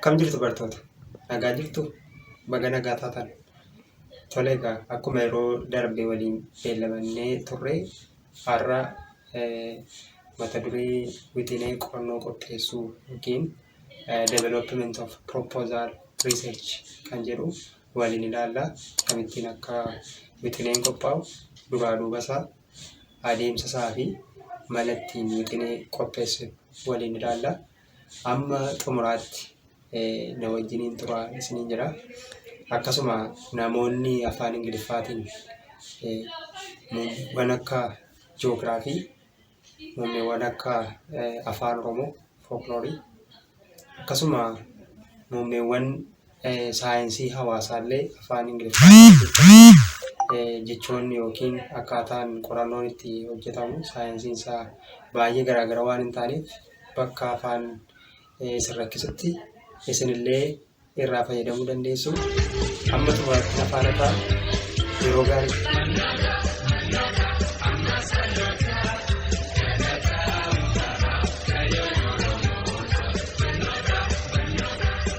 Kam jirtu bartoota? Nagaa jirtu? Baga nagaa taatan. Tole egaa akkuma yeroo darbe waliin beellamannee turre Har'a mata duree wixinee qorannoo qopheessuu yookiin development of proposal research kan jedhu waliin ilaalla. Akkamittiin akka wixineen qophaa'u, duraa duuba isaa, adeemsa isaa fi mala ittiin wixinee qopheessinu waliin ilaalla. Amma xumuraatti na wajjiniin turaa isiniin jira. Akkasuma namoonni afaan Ingiliffaatiin muummeewwan akka joogiraafii, muummeewwan akka afaan Oromoo, fookloorii, akkasuma muummeewwan saayinsii hawaasaallee afaan Ingiliffaan kan hojjetamu jechoonni yookiin akkaataan qorannoon itti hojjetamu saayinsiin isaa baay'ee garaagara waan hin taaneef bakka afaan isin rakkisutti isinillee irraa fayyadamuu dandeessu. Amma xumuraatti afaan irraa yeroo gaarii.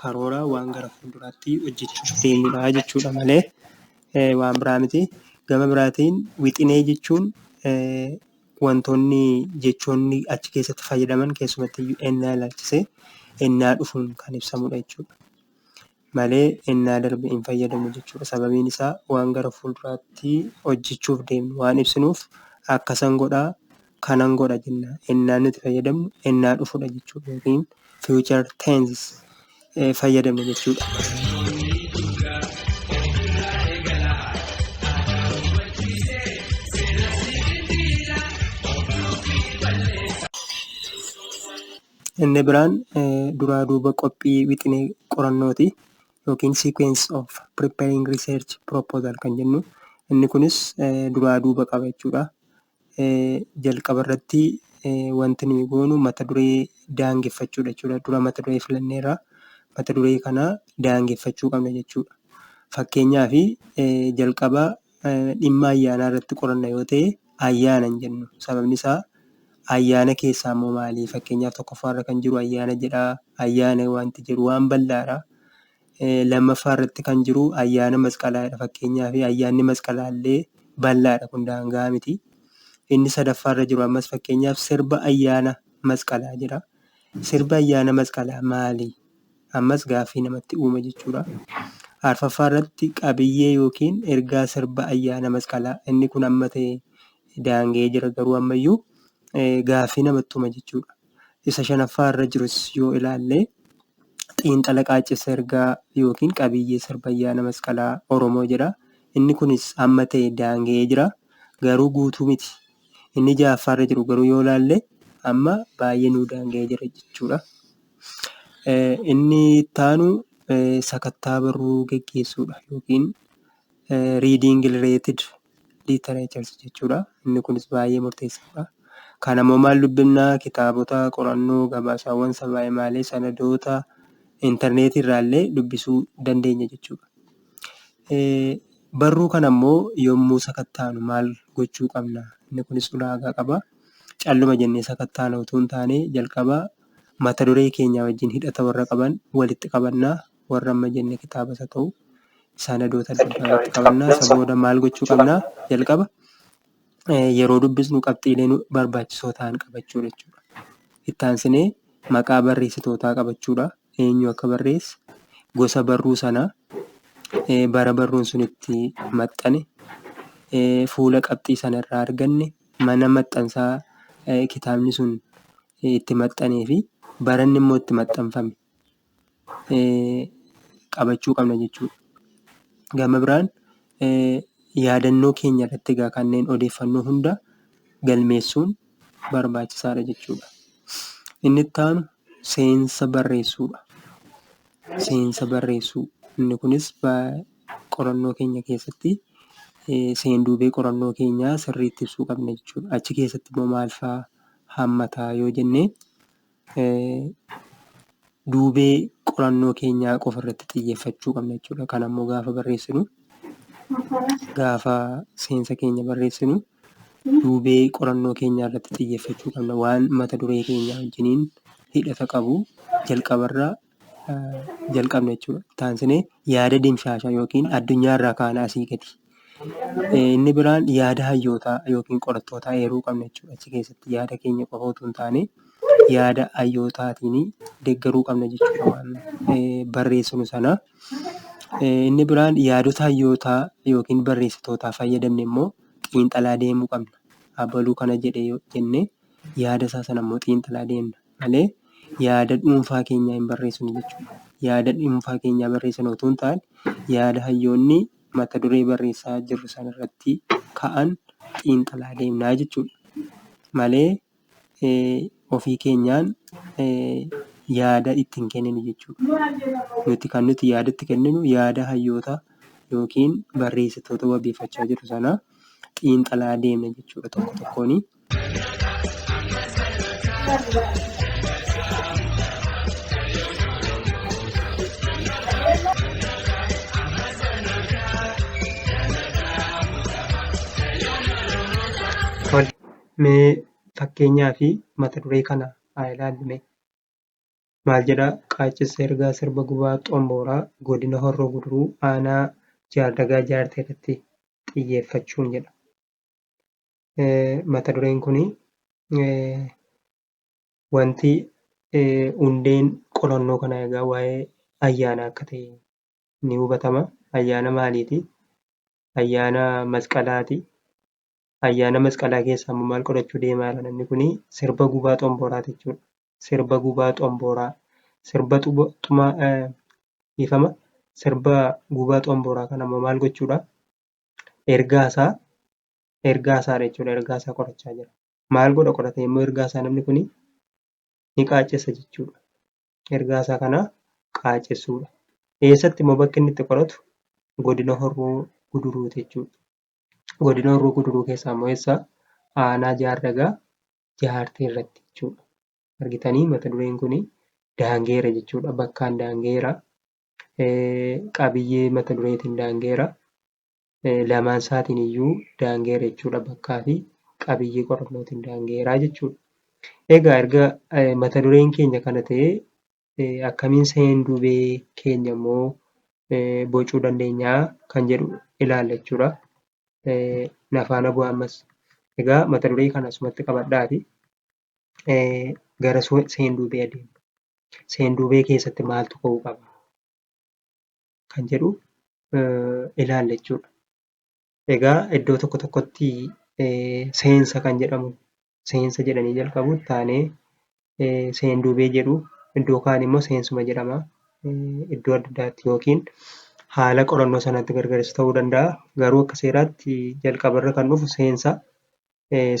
Karoora waan gara fuulduraatti hojjechuuf deemnudha jechuudha malee waan biraa miti. Gama biraatiin wixinee jechuun wantoonni jechoonni achi keessatti fayyadaman keessumatti iyyuu ennaa ilaalchisee ennaa dhufuun kan ibsamudha jechuudha. Malee ennaa darbe hin fayyadamu jechuudha. Sababiin isaa waan gara fuulduraatti hojjechuuf deemnu waan ibsinuuf akkasan godhaa kanan godha jenna. Ennaan nuti fayyadamnu ennaa dhufudha jechuudha yookiin future tenses eh, fayyadamna jechuudha. Inni biraan eh, duraa duuba qophii wixinee qorannooti yookiin sequence of preparing research proposal kan jennu. Inni kunis eh, duraa duuba qaba jechuudha. jalqaba irratti wanti nuyi goonu mata duree daangeffachuu dha jechuudha. Dura mata duree filanneerra. Mata duree kana daangeffachuu qabna jechuudha. Fakkeenyaaf, jalqaba dhimma ayyaanaa irratti qoranna yoo ta'e, ayyaana hin jennu. Sababni isaa, ayyaana keessaa immoo maali? Fakkeenyaaf, tokkoffaa irra kan jiru ayyaana jedha. Ayyaana wanti jedhu waan bal'aa dha. lammaffaarratti kan jiru ayyaana masqalaadha. Fakkeenyaaf ayyaanni masqalaallee bal'aadha kun daangaa miti. Inni sadaffaarra jiru ammas fakkeenyaaf sirba ayyaana masqalaa jedha. Sirbi ayyaana masqalaa maali? Ammas gaaffii namatti uuma jechuudha. Arfaffaarratti qabiyyee yookiin ergaa sirba ayyaana masqalaa inni kun amma ta'e daanga'ee jira garuu ammayyuu gaaffii namatti uuma jechuudha. isa shanaffaa irra jirus yoo ilaalle xiinxala qaaccessa ergaa yookiin qabiyyee sirba ayyaana masqalaa Oromoo jedha. Inni kunis amma ta'e daanga'ee jira. Garuu guutuu miti. Inni jahaffaa irra jiru garuu yoo ilaalle amma baay'ee nuu daanga'ee jira jechuudha. Inni ittaanu sakattaa barruu geggeessuudha yookiin reading related Liitereechersi jechuu dha. Inni kunis baay'ee murteessaa dha. Kana immoo maal dubbifna? Kitaabota, qorannoo, gabaasaawwan sabaa himaalee, sanadoota, intarneetii irraa illee dubbisuu dandeenya jechuu dha. Barruu kana immoo yommuu sakattaanu maal gochuu qabna? Inni kunis ulaagaa qaba. Calluma jennee sakattaana utuu hin taane jalqaba mata duree keenya wajjin hidhata warra qaban walitti qabannaa warra amma jenne kitaabas haa ta'u sanadoota adda addaa walitti qabannaa isa booda maal gochuu qabnaa jalqaba eh, yeroo dubbisnu qabxiilee nu barbaachisoo ta'an qabachuu jechuudha. Itti aansinee maqaa barreessitootaa qabachuudha. Eenyu akka barreesse, gosa barruu sanaa, eh, bara barruun sun itti maxxane, eh, fuula qabxii sana irraa arganne, mana maxxansaa eh, kitaabni sun eh, itti maxxanee fi baranni immoo itti maxxanfame qabachuu qabna jechuu dha. Gama biraan yaadannoo keenya irratti egaa kanneen odeeffannoo hunda galmeessuun barbaachisaa dha jechuu dha. Inni itti aanu seensa barreessuu dha. Seensa barreessuu inni kunis qorannoo keenya keessatti seenduubee qorannoo keenyaa sirriitti ibsuu qabna jechuu dha. Achi keessatti immoo maal faa hammata yoo jennee... duubee qorannoo keenyaa qofa irratti xiyyeeffachuu qabna jechuudha. Kan ammoo gaafa barreessinu gaafa seensa keenya barreessinu duubee qorannoo keenyaa irratti xiyyeeffachuu qabna. Waan mata duree keenyaa wajjiniin hidhata qabu jalqabarra jalqabna jechuudha. Itti aansinee yaada dimshaashaa yookiin addunyaa irraa kaana asii gadi. Inni biraan yaada hayyootaa yookiin qorattootaa eeruu qabna jechuudha. Achi keessatti yaada keenya qofa utuu hin taane yaada hayyootaatiin deeggaruu qabna jechuudha waan barreessinu sana. Inni biraan yaadota hayyootaa yookiin barreessitootaa fayyadamne immoo xiinxalaa deemuu qabna. Abaluu kana jedhe yoo jennee yaada isaa sana immoo xiinxalaa deemna. malee yaada dhuunfaa keenyaa hin barreessinu jechuudha. Yaada dhuunfaa keenyaa barreessina otoo hin taane, yaada hayyoonni mata duree barreessaa jirru sana irratti ka'an xiinxalaa deemnaa jechuudha. Malee ofii keenyaan yaada itti hin kenninu jechuudha. Nuti kan nuti yaada itti kenninu yaada hayyoota yookiin barreessitoota wabeeffachaa jirru sana xiinxalaa deemna jechuudha tokko tokkoonii. Tole, mee fakkeenyaa fi mata duree kana haa ilaallu mee. Maal jedha? Qaaccessa ergaa sirba gubaa xombooraa godina Horroo Guduruu aanaa Jaardagaa Jaartee irratti xiyyeeffachuun jedha. mata dureen kun wanti hundeen qorannoo kana egaa waa'ee ayyaana akka ta'e ni hubatama. Ayyaana maaliiti? Ayyaana masqalaati. Ayyaana masqalaa keessaa immoo maal qorachuu deemaa jira namni kun? Sirba gubaa xomboraati jechuudha. Sirba gubaa xomboraa. Sirba xumaa dhiifama. Sirba gubaa xomboraa kana immoo maal gochuudha? Ergaa isaa ergaa isaa jechuudha ergaa isaa qorachaa jira maal godha qorata yommuu ergaa isaa namni kun ni qaaccessa jechuudha ergaa isaa kana qaaccessuudha eessatti immoo bakki inni itti qoratu godina horroo guduruu jechuudha godina horroo guduruu keessaa immoo eessa aanaa jaardagaa jaartee irratti jechuudha argitanii mata dureen kun daangeera jechuudha bakkaan daangeera qabiyyee mata dureetiin daangeera lamaan isaatiin iyyuu daangeera jechuudha bakkaa fi qabiyyee qorannootiin daangeeraa jechuudha. Egaa erga mata dureen keenya kana ta'ee akkamiin seen duubee keenya immoo bocuu dandeenya kan jedhu ilaalla jechuudha. Nafaana bu'aa ammas. Egaa mata duree kana asumatti qabadhaati gara seen duubee adeemna. Seen duubee keessatti maaltu ka'uu qaba? kan jedhu ilaalla jechuudha. Egaa iddoo tokko tokkotti seensa kan jedhamu seensa jedhanii jalqabu taanee seenduubee jedhu iddoo kaan immoo seensuma jedhama. Iddoo adda addaatti yookiin haala qorannoo sanatti gargaris ta'uu danda'a. Garuu akka seeraatti jalqabarra kan dhufu seensa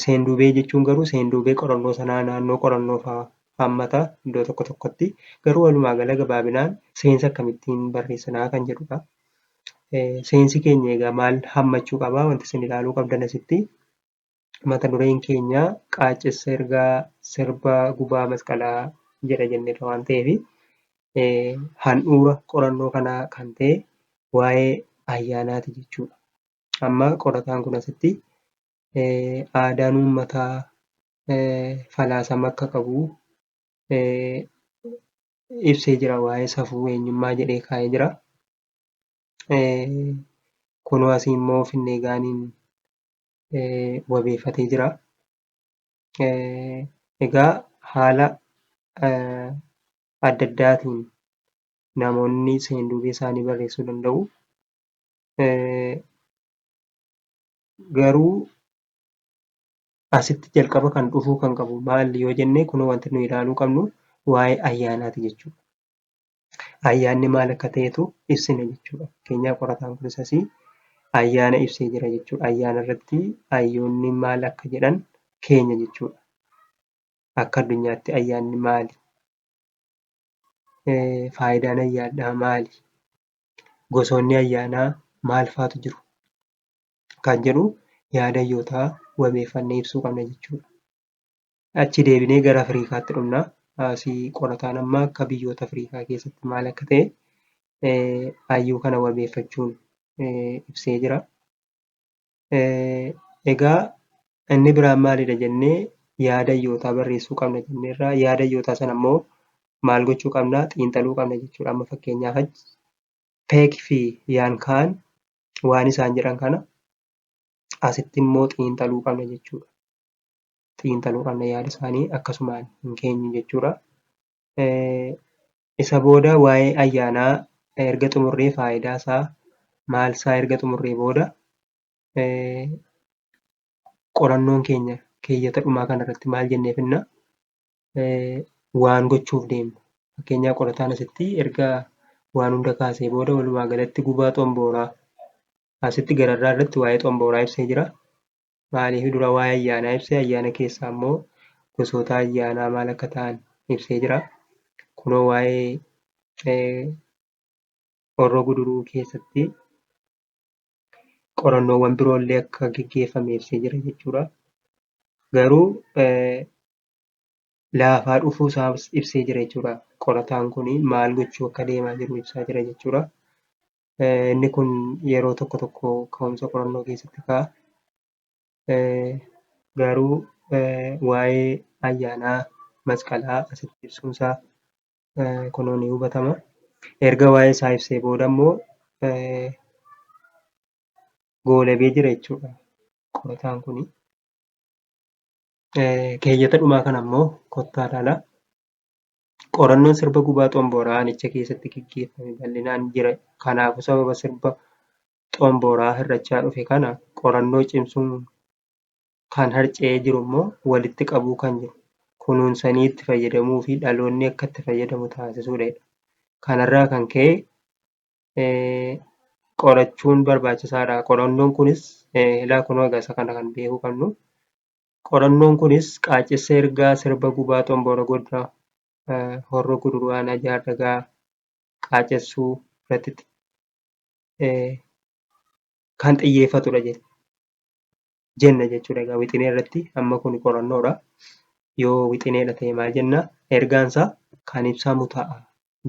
Seenduubee jechuun garuu seenduubee qorannoo sanaa naannoo qorannoo fa'aa hammata iddoo tokko tokkotti. Garuu walumaa gala gabaabinaan seensa akkamittiin barreessinaa kan jedhudha. Seensi keenya egaa maal hammachuu qaba? Wanti isin ilaaluu qabdan asitti mata dureen keenya qaaccessa ergaa sirba gubaa masqalaa jedha jenneerra waan ta'eef handhuura qorannoo kanaa kan ta'e waa'ee ayyaanaati jechuudha. Amma qorataan kun asitti aadaan uummataa falaasama akka qabu ibsee jira waa'ee safuu eenyummaa jedhee kaa'ee jira. Kunoo asii immoo finnee gaaniin wabeeffatee jira. Egaa haala adda addaatiin namoonni seenduubee isaanii barreessuu danda'u. garuu asitti jalqaba kan dhufuu kan qabu maali yoo jennee kun wanti nu ilaaluu qabnu waa'ee ayyaanaati jechuudha. Ayyaanni maal akka ta'etu ibsina jechuudha. Keenyaa qorataan kunis asii ayyaana ibsee jira jechuudha. Ayyaana irratti ayyoonni maal akka jedhan keenya jechuudha. Akka addunyaatti ayyaanni maali? Faayidaan ayyaanaa maali? gosoonni ayyaanaa maal faatu jiru kan jedhu yaada hayyootaa wabeeffannee ibsuu qabna jechuudha. Achi deebinee gara Afriikaatti dhumna. Asii qorataan amma akka biyyoota Afriikaa keessatti maal akka ta'e eh, hayyuu kana wabeeffachuun eh, ibsee jira. Egaa inni biraan maalidha jennee yaada iyyootaa barreessuu qabna jenneerraa yaada iyyootaa sana immoo maal gochuu qabna xiinxaluu qabna jechuudha. Amma fakkeenyaaf achi peek fi yaan kaan waan isaan jedhan kana asitti immoo xiinxaluu qabna jechuudha. Xiinxaluu qabna yaada isaanii akkasumaan hin keenyu jechuudha. Isa booda waa'ee ayyaanaa erga xumurree faayidaa isaa maal isaa erga xumurree booda qorannoon keenya keeyyata dhumaa kana irratti maal jennee finna waan gochuuf deemnu fakkeenyaa qorataan asitti erga waan hunda kaasee booda walumaa galatti gubaa xombooraa asitti gararraa irratti waa'ee xombooraa ibsee jira. maaliif dura waa'ee ayyaanaa ibse ayyaana keessaa immoo gosoota ayyaanaa maal akka ta'an ibsee jira kunoo waa'ee horroo guduruu keessatti qorannoowwan biroollee akka geggeeffame ibsee jira jechuudha. Garuu laafaa dhufuu isaas ibsee jira jechuudha. Qorataan kun maal gochuu akka deemaa jiru ibsaa jira jechuudha. Eh, Inni kun yeroo tokko tokko ka'umsa qorannoo keessatti ka'a. Eh, Garuu eh, waa'ee ayyaanaa masqalaa asitti ibsuunsaa eh, kunoo ni hubatama. Erga waa'ee isaa ibsee booda immoo eh, goolabee jira jechuudha qorataan kuni. Eh, Keeyyata dhumaa kana immoo kottaa ilaala. Qorannoon sirba gubaa xombooraa aanicha keessatti geggeeffame bal'inaan jira. Kanaafuu sababa sirba xombooraa hir'achaa dhufe kana qorannoo cimsuun kan harca'ee jiru immoo walitti qabuu kan jiru kunuunsanii itti fayyadamuufi dhaloonni akka itti fayyadamu taasisuudha jedha. Kanarraa kan ka'e qorachuun barbaachisaadha. Qorannoon kunis ilaa kunoo egaa isa kana kan beekuu qabnu Qorannoon kunis qaaccessa ergaa sirba Gubaa Xomboora Godina Horroo Guduruu Aanaa Jaardagaa qaaccessuu irratti kan xiyyeeffatudha jenna jechuudha. Egaa wixinee irratti amma kun qorannoodha. Yoo wixineedha ta'e maal jenna? Ergaan isaa kan ibsamu ta'a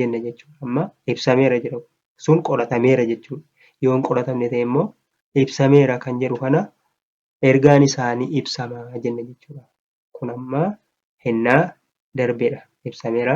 jenna jechuudha. Amma ibsameera jira sun qoratameera jechuudha. Yoo hin qoratamne ta'e immoo ibsameera kan jedhu kana ergaan isaa ni ibsama jenne jechuudha. Kun amma hennaa darbedha. Ibsameera.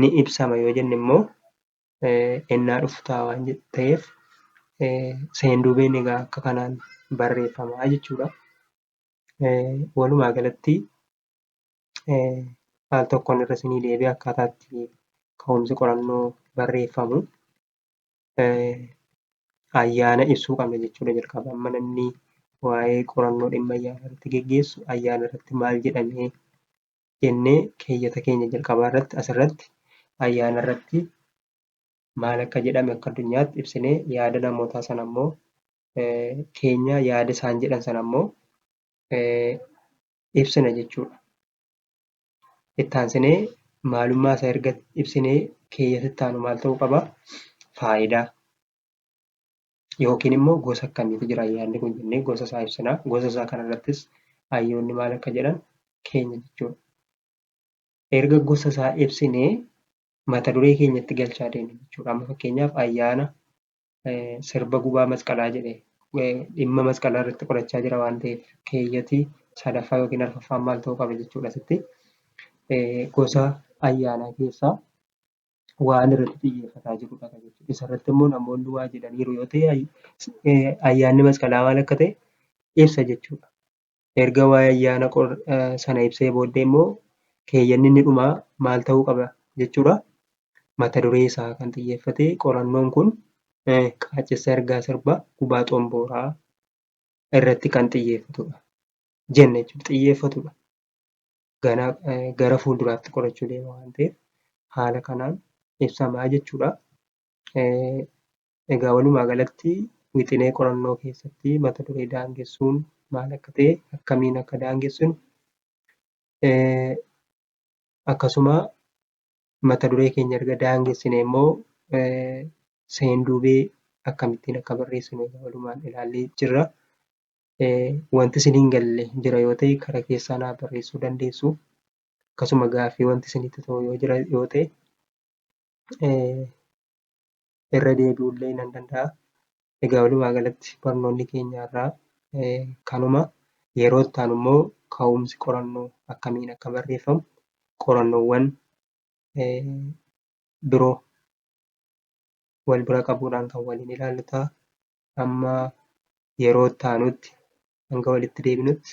Ni ibsama yoo jenne immoo hennaa dhufu ta'a waan ta'eef seenduubeen egaa akka kanaan barreeffama jechuudha. Walumaa galatti al tokkoon irra isinii deebi'ee akkaataa itti ka'umsi qorannoo barreeffamu ayyaana ibsuu qabna jechuudha jalqaba. Amma namni waa'ee qorannoo dhimma ayyaana irratti geggeessu ayyaana irratti maal jedhamee jennee keeyyata keenya jalqabaa irratti asirratti ayyaana irratti maal akka jedhame akka addunyaatti ibsinee yaada namootaa sana ammoo keenya yaada isaan jedhan sana ammoo ibsina jechuudha. Itti aansinee maalummaa isaa erga ibsinee keeyyata itti aanu maal ta'uu qaba? Faayidaa yookiin immoo gosa akkamiitu jira yaadni kun jennee gosa isaa ibsina. Gosa isaa kanarrattis hayyoonni maal akka jedhan keenya jechuudha. Erga gosa isaa ibsinee mata duree keenyatti galchaa deemna jechuudha. Amma fakkeenyaaf ayyaana sirba gubaa masqalaa jedhe dhimma masqalaa irratti qorachaa jira waan ta'eef keeyyati sadaffaa yookiin arfaffaan maal ta'uu qaba jechuudha asitti gosa ayyaanaa keessaa waan irratti xiyyeeffataa jirudha kan jechuudha. Isarratti immoo namoonni waa jedhaniiru yoo ta'e ayyaanni masqalaa maal akka ta'e ibsa jechuudha. Erga waa'ee ayyaana qor sana ibsee booddee immoo keeyyanni inni dhumaa maal ta'uu qaba jechuudha. Mata duree isaa kan xiyyeeffate qorannoon kun qaaccessa ergaa sirba gubaa xombooraa irratti kan xiyyeeffatudha. Jenna jechuudha xiyyeeffatudha. Gana gara fuulduraatti qorachuu deema waan ta'eef haala kanaan ibsamaa jechuudha. Egaa walumaa galatti wixinee qorannoo keessatti mata duree daangessuun maal akka ta'e akkamiin akka daangessinu akkasuma mata duree keenya erga daangessine immoo seenduubee akkamittiin akka barreessinu egaa walumaan ilaallee jirra. Wanti isin hin galle jira yoo ta'e kara keessaa naa barreessuu dandeessu. Akkasuma gaaffii wanti isinitti ta'u yoo jira yoo ta'e irra deebi'uu illee nan danda'a. Egaa walumaa galatti barnoonni keenya irraa kanuma. Yeroo itti aanu immoo ka'umsi qorannoo akkamiin akka barreeffamu qorannoowwan biroo wal bira qabuudhaan kan waliin ilaallu ta'a. Amma yeroo itti aanutti hanga walitti deebinutti